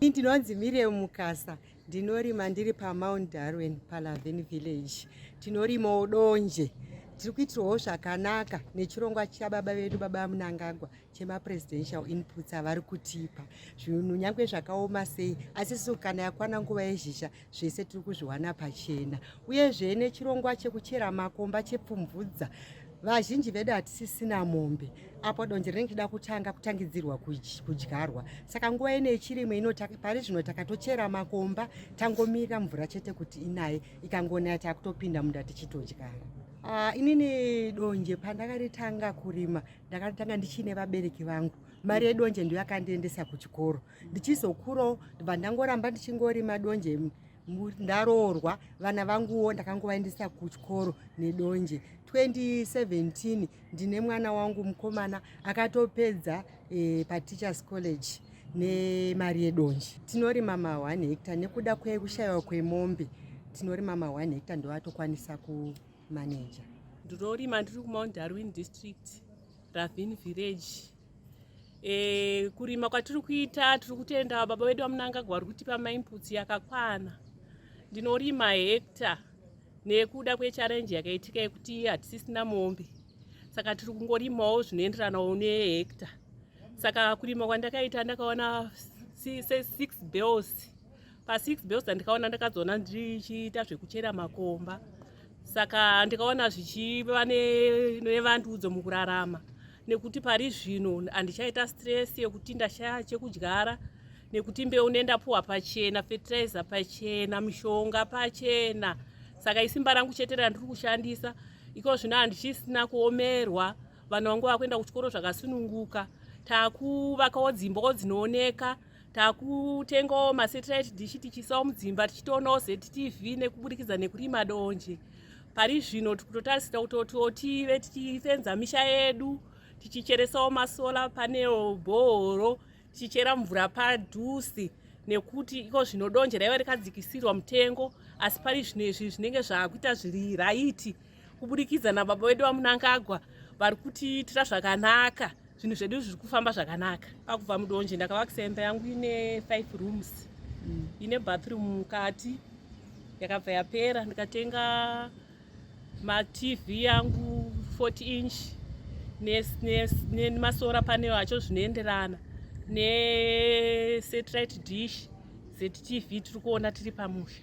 Ndinonzi Miriam Mukasa ndinorima ndiri paMount Darwin paLavin Village. Tinorimawo donje. Tiri kuitirwawo zvakanaka nechirongwa chababa vedu baba Munangagwa chemapresidential inputs avari kutipa. Zvinhu nyangwe zvakaoma sei asi kana yakwana nguva yezhizha zvese tiri kuzviwana pachena uyezve nechirongwa chekuchera makomba chepfumvudza vazhinji vedu hatisisina mombe apo donje rinenge chida kutanga kutangidzirwa kudyarwa saka nguva ino yechirimo ino pari zvino takatochera makomba tangomirira mvura chete kuti inaye ikangonaya takutopinda munda tichitodyara ah, inini donje pandakaritanga kurima ndakaritanga ndichiine vabereki vangu mari yedonje ndiyo yakandiendesa kuchikoro ndichizokurawo ndibva ndangoramba ndichingori madonje ndaroorwa vana vanguwo ndakangovaendesa kuchikoro nedonje 2017 ndine mwana wangu mukomana akatopedza e, pateachers college nemari yedonje tinorima ma 1 hectare nekuda kwekushayiwa kwemombe tinorima ma 1 hectare ndovatokwanisa kumaneja ndinorima ndiri kumount darwin district ravin village E, kurima kwatiri kuita tiri kutenda baba vedu vamunangagwa vari kutipa mainputs yakakwana ndinorima hekta nekuda kwecharenji yakaitika yekuti hatisisina mombe saka tiri kungorimawo zvinoenderanawo nehekta saka kurima kwandakaita ndakaona six bells pa 6 bells ndikaona ndakazoona ndichiita zvekuchera makomba saka ndikaona zvichiva nevandudzo mukurarama nekuti pari zvino handichaita stress yekuti ndashaya chekudyara nekuti mbeu nendapuwa pachena fertilizer pachena mishonga pachena saka isimba rangu chete randiri kushandisa iko zvino handichisina kuomerwa vanhu vangu vakuenda kuchikoro zvakasununguka takuvakawo dzimbawo dzinooneka takutengawo masatellite dish tichiisawo mudzimba tichitoonawo ztv nekuburikidza nekurima donje pari zvino tikutotarisira kutoti tive tichifenza misha yedu tichicheresawo masola panel bhohoro tichichera mvura padhusi nekuti iko zvino donje raiva rikadzikisirwa mutengo asi pari zvino izvi zvinenge zvakuita zviri raiti kuburikidza nababa vedu vamunangagwa vari kutiitira zvakanaka zvinhu zvedu zviri kufamba zvakanaka pakubva mudonje ndakavakisa imba yangu ine five rooms mm. ine bathroom mukati yakabva yapera ndikatenga matv yangu 40 inch nemasora paneo acho zvinoenderana nesatellite dish zetv tiri kuona tiri pamusha